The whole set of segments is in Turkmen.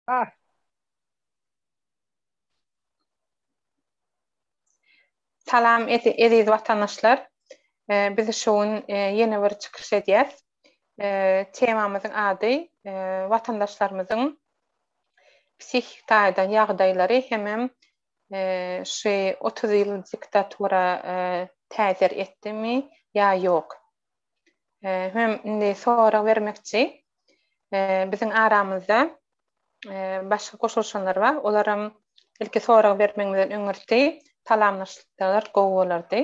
Bar. Salam eziz watandaşlar. Biz şu gün ýene bir çykyş edýäs. Temamyzyň ady watandaşlarymyzyň psihiki taýdan ýagdaýlary hemem şu otuz ýyl diktatura täsir etdimi ýa ýok? Hem indi sorag bermekçi. Biziň aramyzda başga goşulyşanlar bar. Olaram ilki sorag bermegimizden öňürti salamlaşsalar gowy bolardy.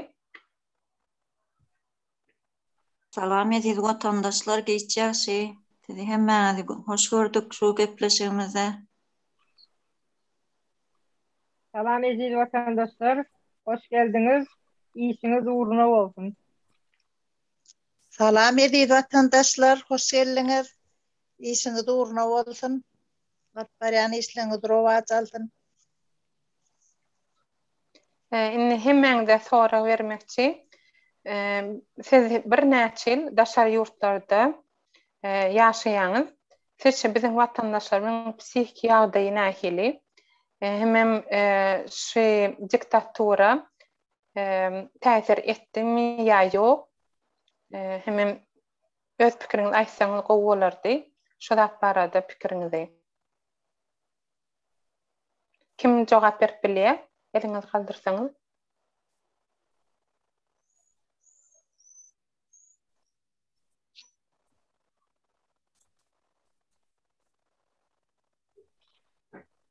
Salam eziz watandaşlar giç ýagşy. Sizi hemmäňizi hoş gördük şu gepleşigimize. Salam eziz watandaşlar, hoş geldiňiz, işiňiz ugruna bolsun. Salam eziz watandaşlar, hoş geldiňiz, işiňiz ugruna bolsun, alyp barýan işleriňiz rowaç alsyn. Indi hemmäňize sorag bermekçi. Siz birnäçe ýyl daşary ýurtlarda ýaşaýaňyz? Sizçe biziň watandaşlarymyň psihiki ýagdaýy nähili? Hemem şu diktatura täsir etdimi ýa ýok? Hemem öz pikiriňizi aýtsaňyz gowy bolardy. Şu zat barada pikiriňizi. Kim jogap berip bilýär? Eliňizi galdyrsaňyz.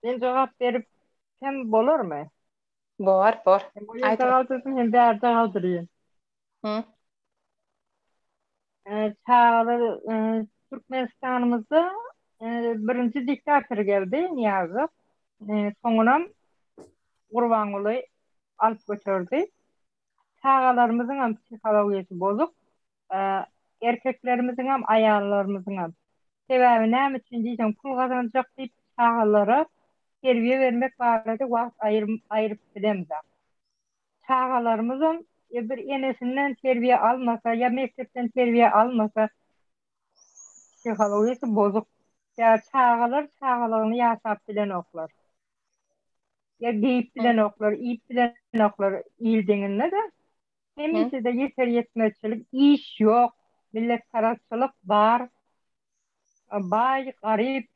Men jogap berip hem bolarmy? Bor, bor. Aýt. Galdyrsyn hem bärde galdyrýan. Hı. Çagalar Türkmenistanymyzda birinji diktator geldi Niýazow. Soňunam Gurbanguly alyp götürdi. çagalarymyzyňam psihologiýasy bozuk, erkeklerimiziňem, aýallarymyzyňam. Sebäbi näme üçin diýseň, pul gazanjak diýip, çagalara terbiýe bermek barada wagt aýryp bilemzok. Çagalarymyzam bir enesinden terbiýe almasa ýa mekdepden terbiýe almasa, psihologiýasy bozuk. Çagalar çagalygyny ýaşap bilenoklar. Ya geyip bilen oklar, iyip bilen oklar il deňinde de. Hemişe de yeter yetmezçilik, iş yok, millet parazçılık bar. Bay, garip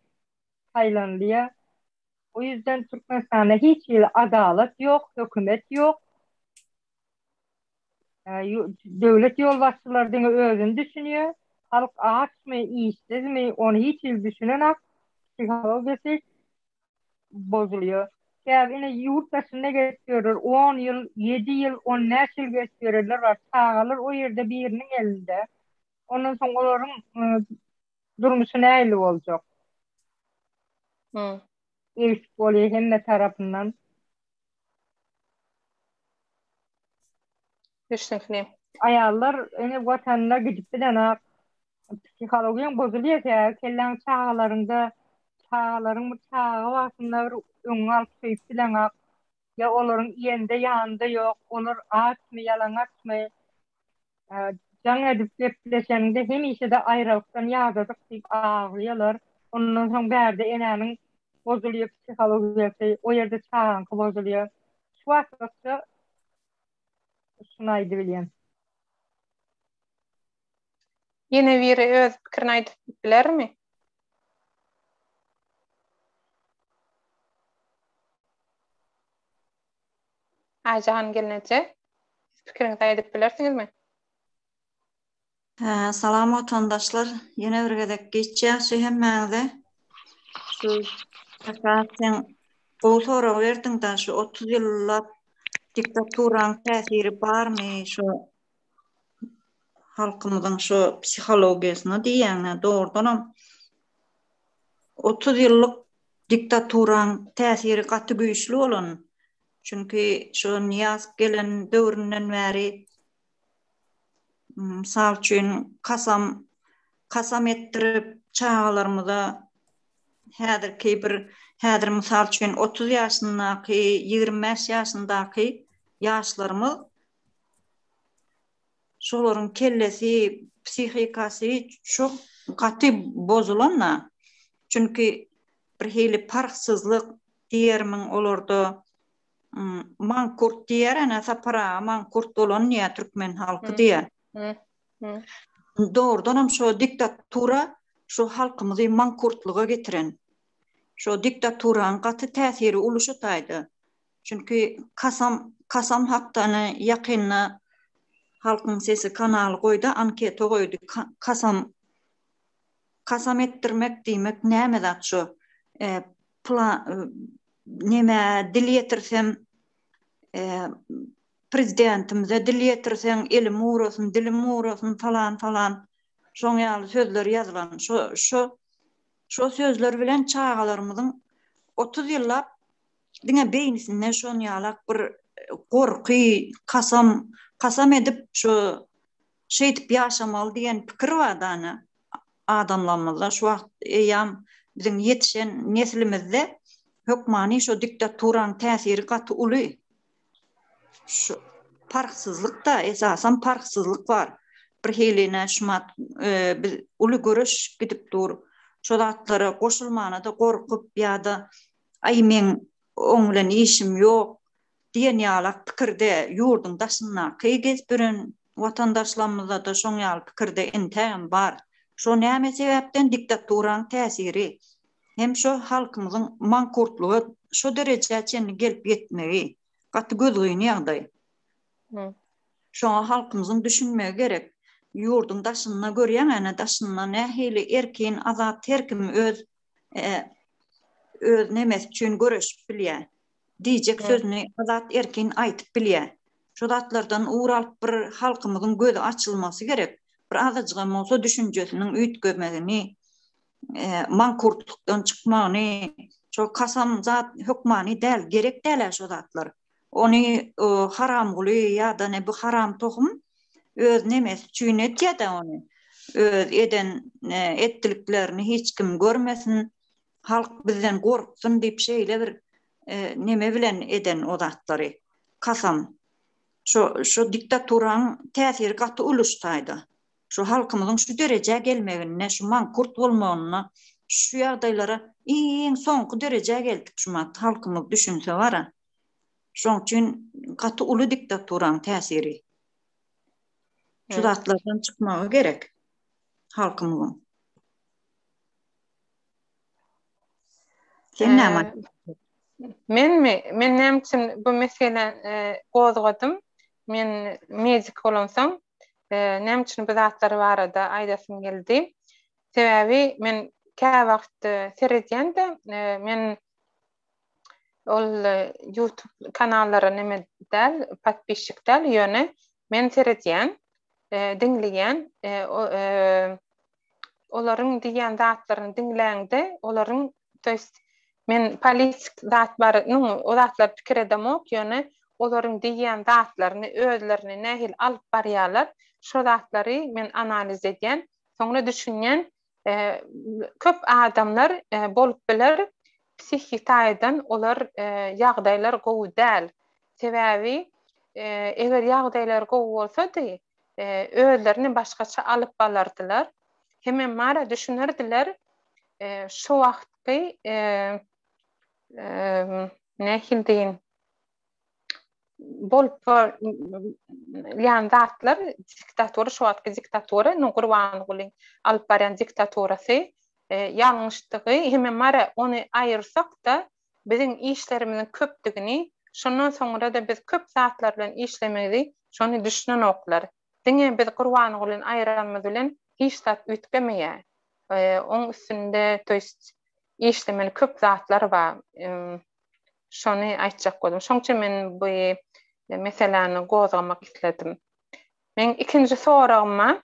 saylanlıya. O yüzden Türkmenistanda hiç il adalet yok, hükümet yok. Devlet yol başçılar dine özün düşünüyor. Halk aç mı, işsiz mi, onu hiç il düşünen ak. Psikologisi bozulýar. Käbir ine ýurt daşynda gezip ýörler, on ýyl, ýedi ýyl, on bäş ýyl gezip ýörenler bar. Çagalar o ýerde biriniň elinde. Ondan soň olaryň durmuşy nähili boljak? Degişik bolýar hemme tarapyndan. Düşnükli. Aýallar öňe watanyna gidip bilenok. Psihologiýaň bozulýar kä, kelläň çagalaryňda, çagalaryň bir çaga wagtynda bir öňüňe alyp söýüp bileňok. Ýa olaryň iýende ýanynda ýok, olar açmy, ýalaňaçmy. Jaň edip gepleşeniňde hemişe-de aýralykdan ýadadyk diýip aglaýalar. Ondan soň bärde enäniň bozulýar psihologiyasy, o ýerde çagaňky bozulýar. Şu batlykda şuny aýdybilýän. Ýene biri öz pikirini aýdyp bilermi? Aýjahan gelneje, siz pikiriňizi aýdyp bilersiňizmi? Salam watandaşlar, ýene bir gezek giç ýagşy hemmäňize. Şu Sakat sen gowy sorag berdiň da şu otuz ýyllap diktaturanyň täsiri barmy şu halkymyzyň şu psihologiýasyna diýýäňä dogrudanam otuz ýyllyk diktaturaň täsiri gaty güýçli bolan. Çünki şu Nyýaz gelen döwründen bäri mysal üçin kasam kasam etdirip çagalarymyza häzirki bir häzir mysal üçin otuz ýaşyndaky ýigrimi bäş ýaşyndaky ýaşlarymyz Şolaryň kellesi, psihikasy çok gaty bozulan-da. Çünki bir hili parhsyzlyk diýermiň olarda. Mankurt diýer ene Sapar aga, mankurt bolan diýer türkmen halky diýer. Dogrudan hem şo diktatura şu halkymyzy mankurtlyga getiren. Şo diktaturanyň gaty täsiri uly şu taýda. Çünki Kasam Kasam Haktany ýakynda Halkyň sesi kanaly goýdy, anketa goýdy. Kasam Kasam etdirmek diýmek näme zat şu? E, näme dil ýetirsem e, prezidentimize dil ýetirseň elim ugrasyn, dilim ugrasyn falan falan şoň ýaly sözler ýazylan. Şo şo şo sözler bilen çagalarymyzyň 30 ýyllap Diňe beýnisinde şonýalak bir gorky, kasam, kasam edip şu şeýdip ýaşamaly diýen pikir bar dana adamlarymyzda şu wagt eýýam biziň ýetişen neslimizde hökmany şo diktaturanyň täsiri gaty uly. Şu parhsyzlyk-da, esasan parhsyzlyk bar. Bir hili näşumat biz uly göreş gidip dur. Şo zatlara goşulmana-da gorkup ýa-da Aý, meň oň bilen işim ýok diýen ýalak pikirde ýurduň daşyndaky gezip ýören watandaşlarymyzda-da şoň ýaly pikirde entägem bar. Şo näme sebäpden diktaturanyň täsiri hem şo halkymyzyň mankurtlyga şo derejä çenli gelip ýetmegi gaty gözgyny ýagdaý. Şoňa halkymyzyň düşünmegi gerek. Ýurduň daşynda görýäň ene daşynda nähili erkin azat herkim öz öz nemesi üçin göreşip bilýär. Diýjek sözüni azat erkin aýtyp bilýär. Şu zatlardan ugur alyp bir halkymyzyň gözi açylmasy gerek. Bir azajygam bolsa düşünjesiniň üýtgemegini, mankurtlykdan çykmagyny, şo kasam zat hökmany däl, gerek däl-ä şo zatlar. Ony Haramguly ýa-da ne bu haram tohum öz nemesi üçin etýä-dä ony. Öz eden etdiliklerini hiç kim görmesin, halk bizden gorksun diýip şeýle bir neme bilen eden o zatlary. Kasam. Şo şu diktaturaň täsiri gaty uly şu taýda. Şu halkymyzyň şu derejä gelmeginde, şu mankurt bolmagynda, şu ýagdaýlara iň soňky derejä geldik şu mat halkymyz düşünse bara. Şoň üçin gaty uly diktaturanyň täsiri. Şu zatlardan çykmagy gerek halkymyzyň. Sen näme? Menmi? Men näme üçin bu meselä e, gozgadym? Men medik bolansoň, näme üçin bu zatlar barada aýdasym geldi? Sebäbi men käwagt seredýän-de, men ol YouTube kanallara näme däl, podpisçik däl, ýöne men seredýän, diňleýän, olaryň diýýän zatlaryny diňläňde, olaryň, to ýest, men politik zat bar, nu, o zatlar pikir edemok, ýöne olaryň diýýän zatlaryny, özlerini nähili alyp barýarlar, şo zatlary men analiz edýän, soňra düşünýän, e, köp adamlar, e, bolup biler, psihiki taýdan olar ýagdaýlar gowy däl. Sebäbi eger ýagdaýlar gowy bolsady, özlerini başgaça alyp balardylar. Hemem mara düşünerdiler. Şu wagtky nähili diýin, bolup ýan zatlar diktatura şu wagtky diktatura indi gurbangulyň alyp barýan diktaturasy e, ýalňyşdygy hemme mara ony aýyrsak da biziň işlerimiziň köpdügini şondan soňra da biz köp zatlar bilen işlemegi şony düşünenoklar diňe biz gurbangulyny aýyranymyz bilen hiç zat üýtgemeýär e, oň üstünde to işlemeli köp zatlar bar Şony aýtjak boldum. Şoň üçin men bu meseläni gozgamak isledim. Meň ikinji soragyma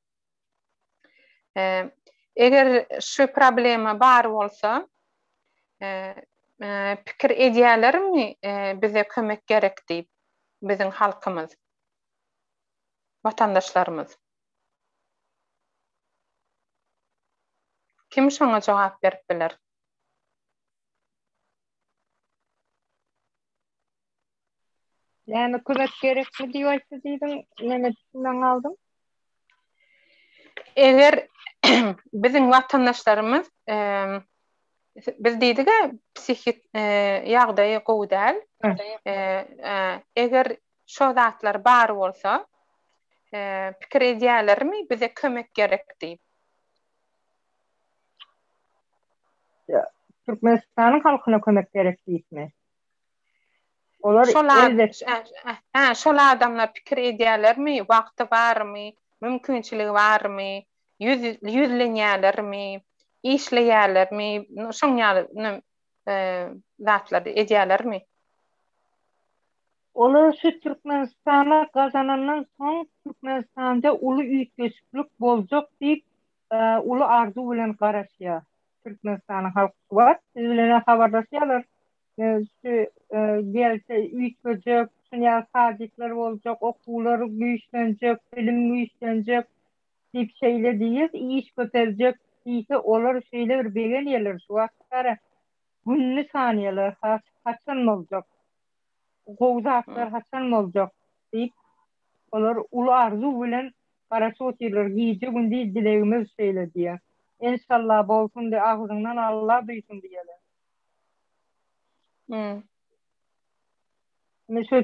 eger şu problema bar bolsa pikir edýälermi bize kömek gerek diýip biziň halkymyz, watandaşlarymyz? Kim şoňa jogap berip biler? Näme kömek gerekmi diýip aýtdy diýdiň, näme düşünmän galdym? Eger biziň watandaşlarymyz biz diýdigi psihik ýagdaýy gowy däl. Eger şo zatlar bar bolsa pikir edýälermi bize kömek gerek diýip. Türkmenistanyň halkyna kömek gerek diýipmi? Olar Hä, şol adamlar pikir edýälermi, wagty barmy, mümkinçiligi barmy, ýüzlenýälermi, işleýälermi, şoň ýaly zatlary edýälermi? Olar şu Türkmenistana gazanandan soň Türkmenistanda uly üýtgeşiklik boljak diýip uly arzuw bilen garaşýar. Türkmenistanyň halky şu wagt siz bilen-ä habarlaşýarlar. Şu gelse üýtgejek, şuny ýaly sajetler boljak, okuwlar güýçlenjek, bilim güýçlenjek diýip şeýle diýýär, iş köpeljek diýse olar şeýle bir begenýärler şu wagtara gününi sanýarlar has haçan boljak. gowy zatlar haçan boljak? diýip, olar uly arzuw bilen garaşyp otyrlar. Gije-gündiz dilegimiz şeýle diýýär. Enşalla bolsun diý, agzyňdan Alla duýsun diýýärler. Hum. Indi şu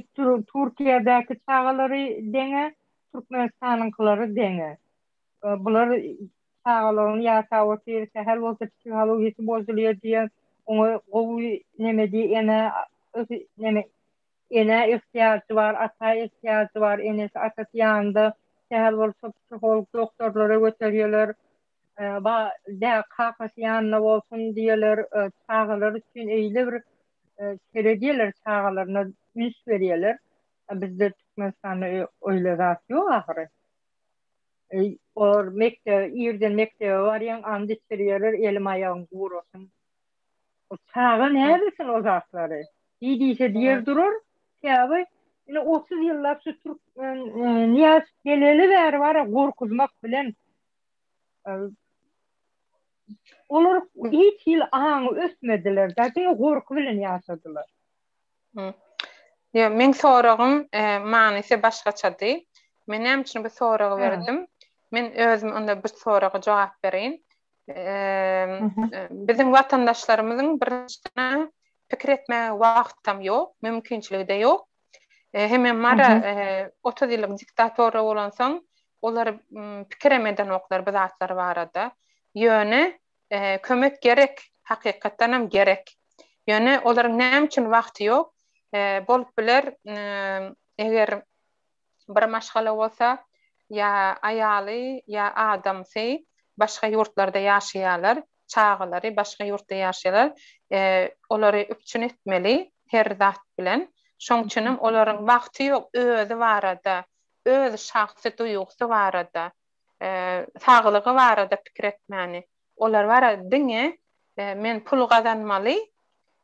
Türkiýedäki çagalary deňe, Türkmenistanyňkylary deňe. Bular çagalaryň ýa sawatly sähel bolsa psihologiýasy bozulýar diýen oňa gowy neme diý ene neme ene ihtiýajy bar ata ihtiýajy bar enesi atasy ýanynda sähel bolsa psiholog doktorlara göterýeler ba dä kakasy ýanynda bolsun diýeler çagalar üçin eýle bir seredýeler çagalaryna üns berýeler bizde türkmenistanda öýle zat ýok ahyry. Olar mekdebe, irden mekdebe barýan, and içirýärler, elim-aýagym gurasyn. O çaga näbilsin o zatlary? Diý diýse diýer durar. Sebäbi indi otuz ýyllap şu türkmen Nyýaz geleli bäri bar-a gorkuzmak bilen olar hiç hili aňy ösmediler-de, diňe gorky bilen ýaşadylar. Ýok, meň soragym manysy başgaçady. Men näme üçin bu soragy berdim? Men özüm onda bir soraga jogap bereýin. Biziň watandaşlarymyzyň birinjiden pikir etmäge wagtam ýok, mümkinçiligi-de ýok. Heme mara 30 ýyllyk diktatora bolansoň, olar pikirem edenoklar bu zatlar barada. Ýöne kömek gerek, hakykatdan hem gerek. Ýöne olaryň näme üçin wagty ýok? Bolup biler, eger bir maşgala bolsa, ýa aýaly, ýa adamsy başga ýurtlarda ýaşaýarlar, çagalary başga ýurtda ýaşaýarlar, olary üpjün etmeli her zat bilen. Şonuň üçin hem olaryň wagty ýok özi barada, öz şahsy duýgusy barada. saglygy barada pikir etmäni, olar barada diňe men pul gazanmaly,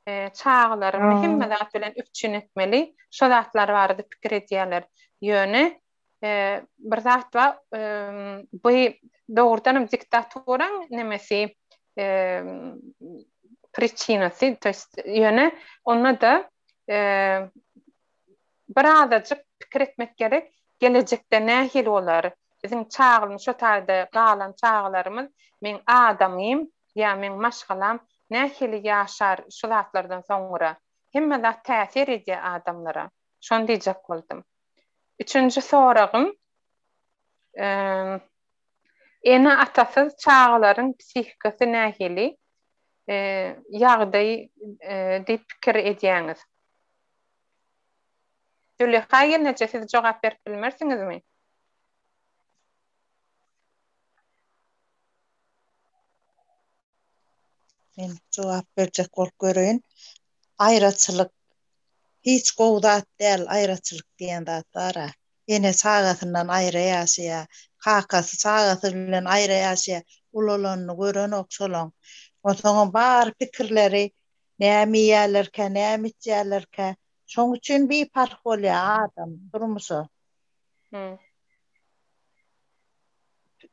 çagalarymy hemme zat bilen üpjün etmeli, şo zatlar barada pikir edýärler. Ýöne bir zat bar, bu dogrudanam diktatoryň nemesi, priçinasy, to ýest ýöne onda-da Bir azajyk pikir etmek gerek, gelejekde nähili bolar? Biziň çaglmy şo taýda galan çagalarymyz meň adamym ýa meň maşgalam nähili ýaşar şu zatlardan soňra? Hemme zat täsir edýär adamlara. Şony diýjek boldum. Üçünji soragym, ene-atasyz çagalaryň psihikasy nähili ýagdaý diýip pikir edýäňiz? Züleha gelneje siz jogap berip bilmersiňizmi? Men jogap berjek bolup göreýin. Aýraçylyk hiç gowy zat däl, aýraçylyk diýen zat bar-a. Ene çagasyndan aýra ýaşaýa, kakasy çagasy bilen aýra ýaşaýa, ulalanyny görenok şolaň. Onsoňam bary pikirleri Näme iýýärlerkä, näme içýärlerkä? Şoň üçin biparh bolýar adam durmuşa.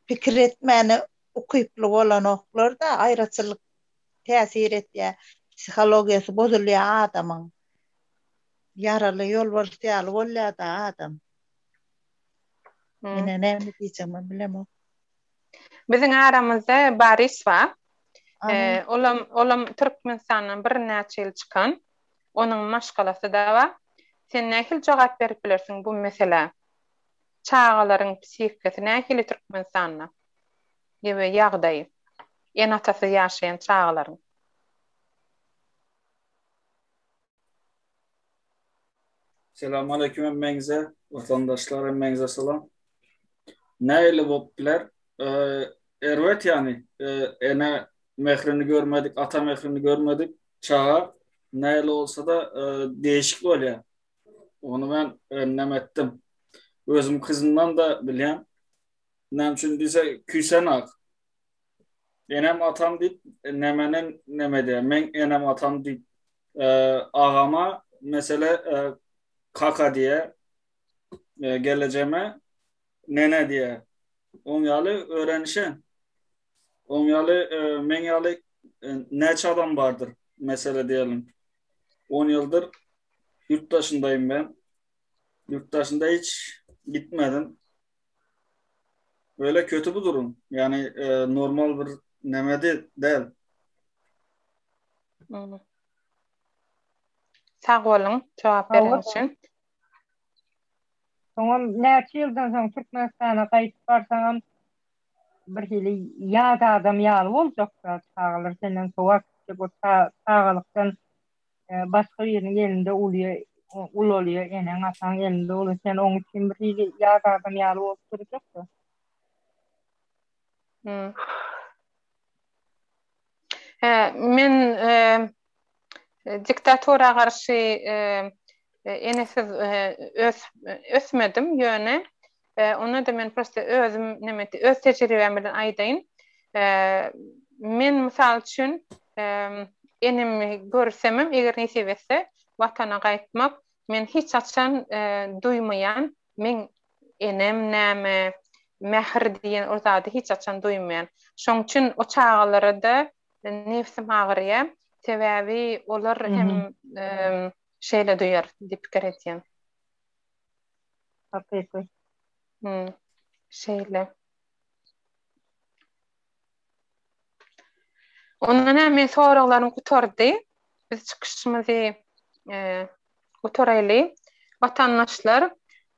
Pikir etmäne ukyply bolanoklar-da, aýraçylyk täsir etýär. Psihologiýasy bozulýar adamyň. Ýaraly ýolbars ýaly bolýar-da adam. Ine, näme diýjegimem bilemok. Biziň aramyzda Baris bar. Olam, olam Türkmenistandan birnäçe ýyl çykan. Onuň maşgalasy-da bar. Sen nähili jogap berip bilersiň bu meselä? Çagalaryň psihikasy nähili Türkmenistanda? Ýa-da ýagdaýy? Ene-atasyz ýaşaýan çagalaryň? Selam aleyküm emmeňize, watandaşlar emmeňize salam. Näle bolup biler? Erbet ýany, ene mehrini görmedik, ata mehrini görmedik çaga näle bolsa-da deýşik bolýar. Ony men öňem etdim. Özüm kyzymdan-da bilýän. Näme üçin diýse, küýsenak. Enem atam diýip, nemeni neme edýär. Meň enem atam diýip agama mesele kaka diýe gelejeme nene diýe oň ýaly örenişen oň ýaly meň ýaly näçe adam bardyr mesele diýelim 10 ýyldyr ýurt daşyndaýym men ýurt daşynda hiç gitmedim Böyle kötü bu durum. Yani e, normal bir neme de değil. Hmm. Sag olun cevap bermek için. Soňam näçe ýyldan soň Türkmenistana gaýdyp barsaňam bir hili ýat adam ýaly boljak çagalar senden sowat bu çagalykdan Başga biriniň elinde uly ulalyja eneň ataň elinde uly sen oň üçin bir hili ýat adam ýaly bolup durjakda. Hä men diktatora garşy enesiz ösmedim ýöne Onda-da men prosta özüm neme diýip, öz tejribem bilen aýdaýyn. Men, mysal üçin, enemi görsemem, eger nesip etse, Watana gaýtmak, men hiç haçan duýmaýan, meň enem näme, mähir diýen ol zady hiç haçan duýmaýan. Şoň üçin o çagalara-da nebsim agyrýar. Sebäbi olar hem şeýle duýar diýip pikir edýän. Hakyky. Hı. Şeýle. Onda näme men soraglarym gutardy. Biz çykyşymyzy e, gutaraýly. Watandaşlar,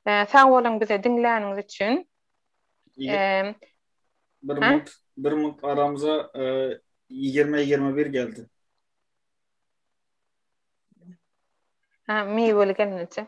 e, sag boluň bize diňläniňiz üçin. E, bir minut, bir minut aramıza e, 20-21 geldi. Ha, meyveli gelmedi.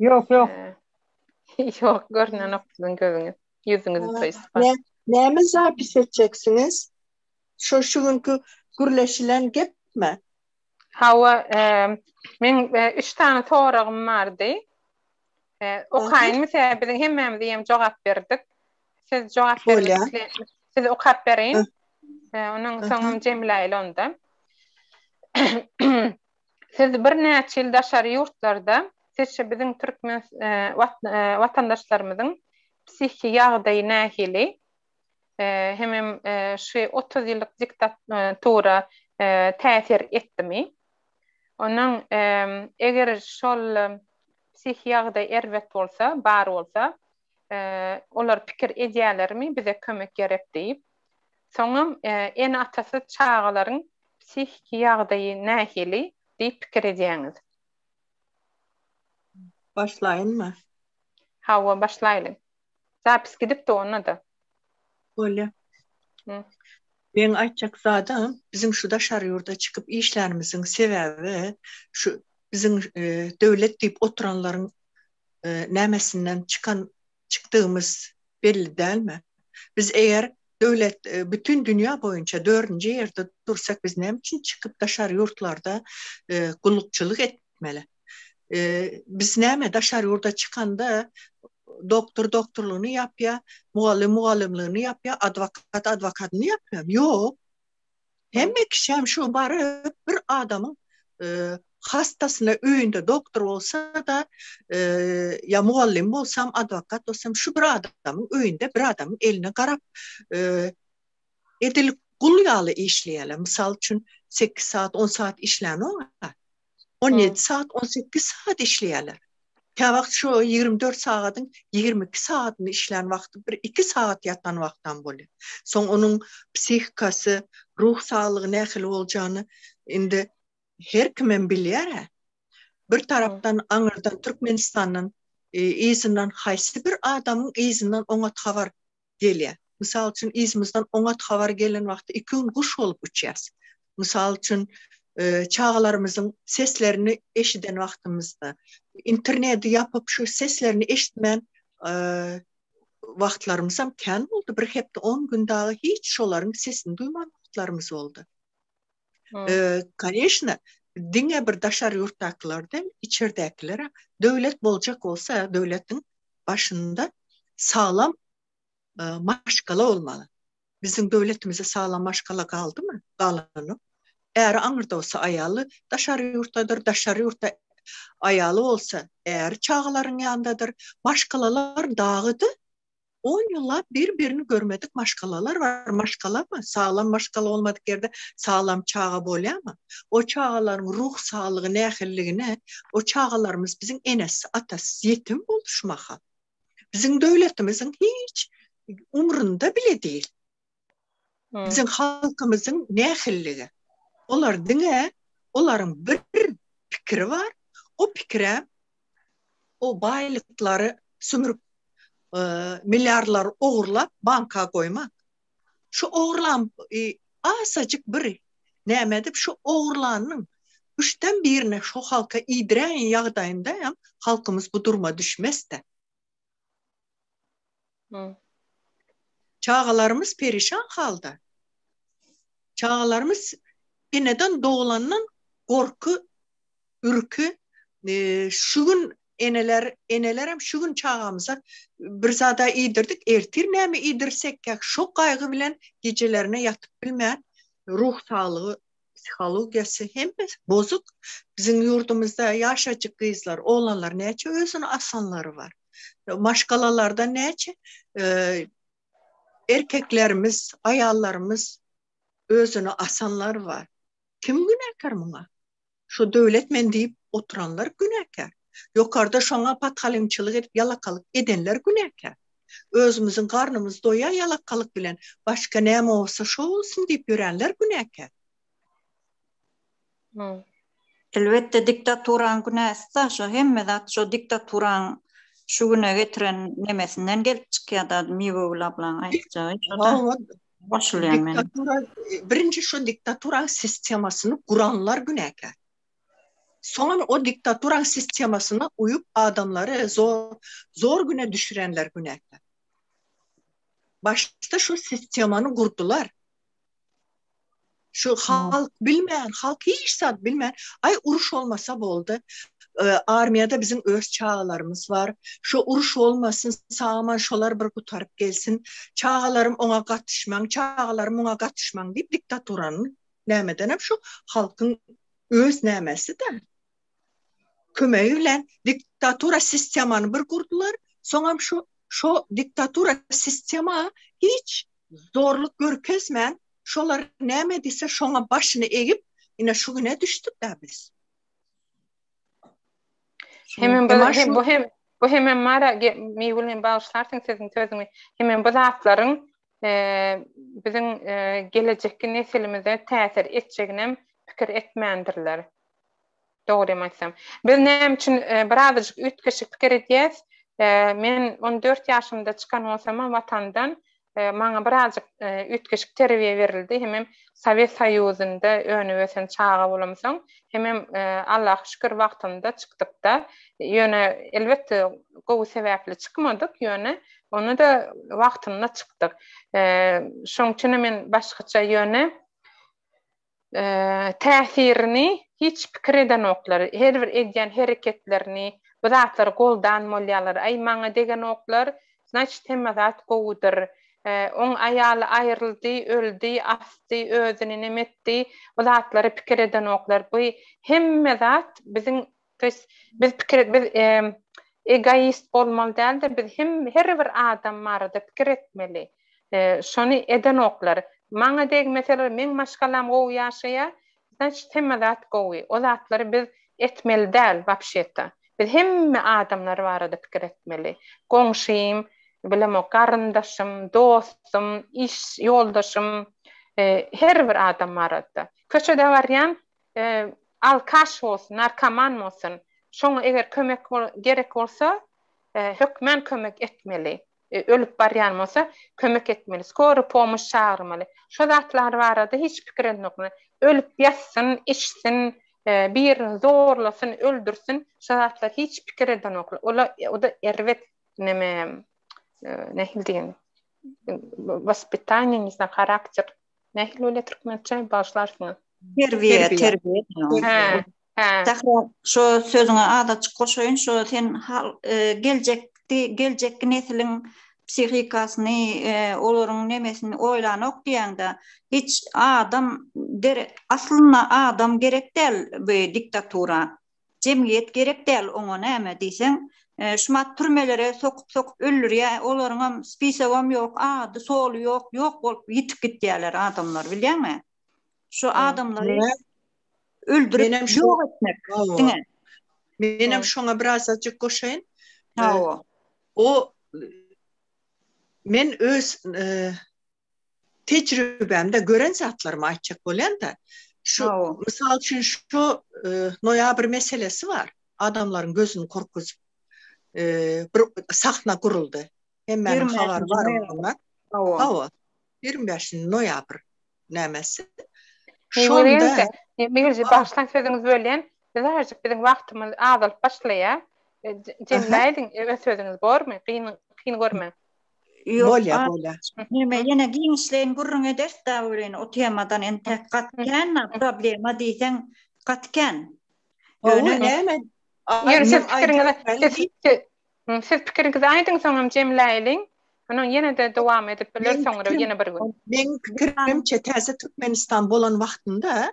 Ýok, ýok. Ýok, görnenok siziň gözüňiz. Ýüzüňiz toýspa. Nä, näme zapis etjeksiňiz? Şo şu günki gürleşilen gepmi? Hawa, men üç sany soragym bardy. Okaýynmy tä biziň hemmämiz ýem jogap berdik. Siz jogap bermek isleýän. Siz okap beriň. Onuň soňam Jemile onda. Siz birnäçe ýyl daşary ýurtlarda, sizçe biziň türkmen watandaşlarymyzyň psihiki ýagdaýy nähili? Hemem şu otuz ýyllyk diktatura täsir etdimi? Ondan eger şol psihiki ýagdaý erbet bolsa, bar bolsa, Olar pikir edýärlermi, bize kömek gerek diýip? Soňam ene-atasyz çagalaryň psihiki ýagdaýy nähili diýip pikir edýäňiz? Başlaýynmy? Hawa, başlaýlyň. Zapis gidipdi onda-da. Bolýa. Meň aýtjak zadym, biziň şu daşary ýurda çykyp işlänimiziň sebäbi, şu biziň döwlet diýip oturanlaryň nämesinden çykan çykdygymyz belli dälmi? Biz eger döwlet bütin dünýä boýunça dördünji ýerde dursak biz näme üçin çykyp daşary ýurtlarda gullukçylyk etmeli? Biz näme daşary ýurda çykanda doktor doktorlygyny ýapýa, mugallym mugallymlygyny ýapýa, adwokat adwokatyny ýapýamy? Ýok. Hemme kişem şu baryp bir adamyň hastasyna öýünde doktor bolsa-da, ýa mugallym bolsam, adwokat bolsam, şu bir adamyň öýünde bir adamyň eline garap, edil gul ýaly işleýärler. Mysal üçin, sekiz sagat, on sagat işlänok-a. On ýedi sagat, on sekiz sagat işleýärler. Käwagt şu ýigrimi dört sagadyň ýigrimi iki sagadyny işlän wagty bir iki sagat ýatan wagtam bolýar. Soň onuň psihikasy, ruh saglygy nähili boljagyny indi her kimem bilýär-ä. Bir tarapdan aňyrdan Türkmenistandan yzyndan haýsy bir adamyň yzyndan oňat habar gelýär. Mysal üçin, yzymyzdan oňat habar gelen wagty iki gün guş bolup uçýarys. Mysal üçin, çagalarymyzyň seslerini eşiden wagtymyzda, interneti ýapyp, şu seslerini eşitmän wagtlarymyzam kän boldy. Bir hepde, on gün dagy hiç şolaryň sesini duýman wagtlarymyz boldy. Koneşna, diňe bir daşary ýurtdakylar däl, içerdäkiler döwlet boljak bolsa, döwletiň başynda saglam maşgala bolmaly. Biziň döwletimizde saglam maşgala galdymy? Galanok. Äri aňyrda bolsa, aýaly daşary ýurtdadyr, daşary ýurtda aýaly bolsa, äri çagalaryň ýanyndadyr. Maşgalalar dagydy. On ýyllap bir-birini görmedik maşgalalar bar. Maşgalamy? Saglam maşgala bolmadyk ýerde saglam çaga bolýarmy? O çagalaryň ruh saglygy nähilidigine, o çagalarymyz biziň enesiz, atasyz, ýetim boldy şu mahal. Biziň döwletimiziň hiç umrunda bile diýil. Biziň halkymyzyň nähilligi? Olar diňe olaryň bir pikiri bar, o pikire o baýlyklary sümürip, milliarlary ogurlap banka goýmak. Şu ogurlan asajyk bir näme edip şu ogurlanyň üçden birini şu halka iýdiräýen ýagdaýynda hem halkymyz bu duruma düşmesde. Çagalarymyz perişan halda. Çagalarymyz eneden doglandan gorky, ürki. Şu gün eneler, enelerem şu gün çagamyza bir zada iýdirdik, ertir näme iýdirsekkä, şo gaýgy bilen gijelerine ýatyp bilmän, ruh saglygy psihologiýasy hemmesi bozuk biziň ýurdumyzda ýaşajyk gyzlar oglanlar näçe özüni asanlary bar maşgalalarda näçe erkeklerimiz aýallarymyz özüni asanlar bar kim günäkär muňa şu döwlet men diýip oturanlar günäkär. Ýokarda şoňa patgalyňçylyk edip ýalakalyk edenler günäkär. Özümiziň garnymyz doýa ýalakalyk bilen başga näme bolsa şo bolsun diýip ýörenler günäkär. Elbetde diktaturaň günäsida şo hemme zat şo diktaturaň şu güne getiren nemesinden gelip çykýada Miwegül ablaň aýtjagy şoda goşulýan men. Diktatura birinji şo diktaturaň sistemasyny guranlar günäkär. Soňam o diktaturaň sistemasyna uýup adamlary zor güne düşürenler günäkär. Başda şu sistemany gurdular. Şu halk bilmän, halk hiç zat bilmän, aý uruş bolmasa boldy. Armiýada biziň öz çagalarymyz bar. Şu uruş bolmasyn, sagaman şolar bir gutaryp gelsin. Çagalarym oňa gatyşmaň, çagalarym muňa gatyşmaň diýip diktaturanyň nämedenem şu halkyň öz nämesi-de. Kömegi bilen diktatura sistemany bir gurdular, soňam şu şo diktatura sistema hiç zorluk görkezmän, şolar näme diýse şoňa başyny egip, ine şu güne düşdük-dä biz. Hemem bu hem bu hem bu hem mara miwilin bagşlarsyň siziň sözüňi. Hemem bu zatlaryň biziň gelejekki nesilimize täsir etjeginem pikir etmändirler. Dogrymy aýtsam. Biz näme üçin birazajyk üýtgeşik pikir edýäs? Men on dört ýaşymda çykan bolsamam Watandan, maňa birazajyk üýtgeşik terbiýe berildi, hemem Sowet Soýuzynda önüp-ösen çaga bolamsoň, Hemem Allaha şükür wagtynda çykdykda, ýöne elbetde gowy sebäpli çykmadyk, ýöne ony-da wagtynda çykdyk. Şoň üçin men başgaça ýöne täsirini hiç pikir edenoklar. Her bir edýän hereketlerini, bu zatlary goldan bolýarlar. Aý maňa degenoklar, Znaçyt hemme zat gowudyr. Oň aýaly aýryldy, öldi, asdy, özüni nem etdi, bu zatlary pikir edenoklar. Bu hemme zat biziň, to ýest biz pikir et, biz egoist bolmaly däldir, biz hem her bir adam barada pikir etmeli. Şony edenoklar. Maňa degmeseler, meň maşgalam gowy ýaşaýar, Znaçit hemme zat gowy. O zatlary biz etmeli däl wapşeta. Biz hemme adamlar barada pikir etmeli. Goňşym, bilemok, garyndaşym, dostum, iş ýoldaşym, her bir adam barada. Köçede barýan alkaş bolsun, narkoman bolsun, şoňa eger kömek gerek bolsa, hökmän kömek etmeli. ölüp barýan bolsa, kömek etmeli, skory pomoş çagyrmaly. Şo zatlar barada hiç pikir edinokmy? Ölüp ýatsyn, içsin, birini zorlasyn, öldürsin, şo zatlar hiç pikir edenoklar. Ola o-da erbet neme, nähili diýen, waspitaniýa, ne znam, harakter, Nähili bolýar türkmençe bagyşlarsyňyz. Terbiýe, terbiýe. Hä, hä. Sahra, şu sözüňe azajyk goşaýyn, şu sen hal e, geljekdi, geljekki nesliň psihikasyny, e, olaryň nemesini oýlanok diýende, hiç adam der, aslynda adam gerek däl bu diktatura. Jemgyýet gerek däl oňa näme diýseň şumat türmelere sokup sokup öldürýä olaryňam spisogam ýok ady soly ýok ýok bolup ýitip gitýäler adamlar bilýäňmi şu adamlary öldürip ýok etmek diňe menem şoňa birazajyk goşaýyn hawa o men öz tejribämde gören zatlarymy aýtjak bolýan-da, şu, mysal üçin, şu noýabr meselesi bar, adamlaryň gözüni gorkuzyp, bir sahna guruldy. Hemmäniň habary bar onda. Hawa, ýigrimi bäşinji noýabr nämesi. Şonda. Mejlis başlan sözüňizi bölýän, biz azajyk biziň wagtymyz azalyp başlaýar. Jemläýdiň öz sözüňizi bormy? Kyn görmäň. Bolýa, bolýa. Näme, ýene giňişleýin gürrüň ederis dagy welin, o temadan entek gaty kän problema diýseň, gaty kän. Ýöne näme, siz pikiriňizi aýdyň, soňam jemläýeliň. Munuň ýene-de dowam edip biler, soňra ýene bir gün. Meň pikirimçe, täze Türkmenistan bolan wagtynda,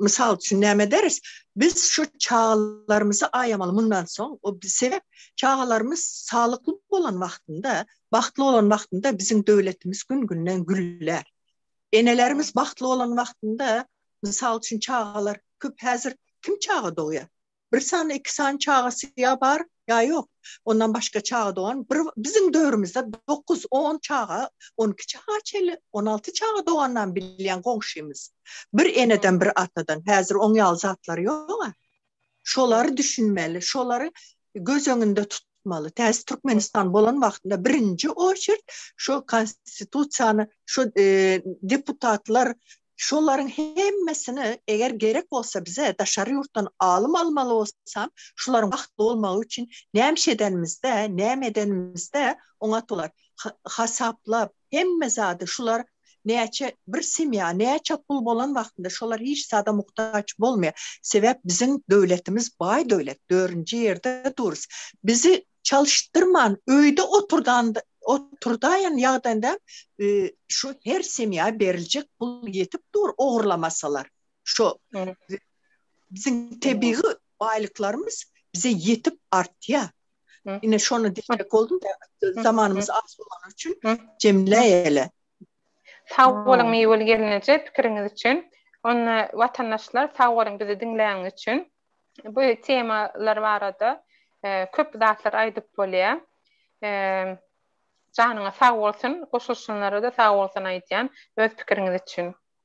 mysal üçin näme ederis? Biz şu çagalarymyzy aýamaly mundan soň. O sebäp çagalarymyz saglykly bolan wagtynda, bagtly bolan wagtynda biziň döwletimiz gün-günden güller. Enelerimiz bagtly bolan wagtynda, mysal üçin çagalar köp häzir kim çaga dogýar? Bir sany, iki sany çagasy ýa bar, ýa ýok. Ondan başga çaga dogan, bir biziň döwrümizde dokuz, on çaga, on iki çaga çenli, on alty çaga dogandan bilýän goňşymyz. Bir eneden, bir atadan. Häzir oň ýaly zatlar ýog-a. Şolary düşünmeli, şolary göz öňünde tut. tutmaly. Täze Türkmenistan bolan wagtynda birinji oçert şu konstitusiýany şu e, deputatlar şolaryň hemmesini eger gerek bolsa bize daşary ýurtdan alym almaly bolsam, şolaryň wagtly bolmagy üçin näme edenimizde, näme edenimizde oňa tolar hasaplap Hemme zady şular näçe bir semýa näçe pul bolan wagtynda şolar hiç zada muhtaç bolmaýar. Sebäp biziň döwletimiz baý döwlet, dörünji ýerde durus. Bizi çalyşdyrman öýde oturdan oturdaýan ýagdaýynda şu her semýa beriljek pul ýetip dur ogurlamasalar. Şo biziň tebigy baýlyklarymyz bize ýetip artýar. Ine şonu diýjek boldum da, zamanymyz az bolany üçin jemleýeli. Sag boluň Miweli gelneje pikiriňiz üçin. Onda watandaşlar sag boluň bizi diňläniňiz üçin. Bu temalar barada köp zatlar aýdyp bolýar. Janyňyz sag bolsun, goşulyşanlara-da sag bolsun aýdýan öz pikiriňiz üçin.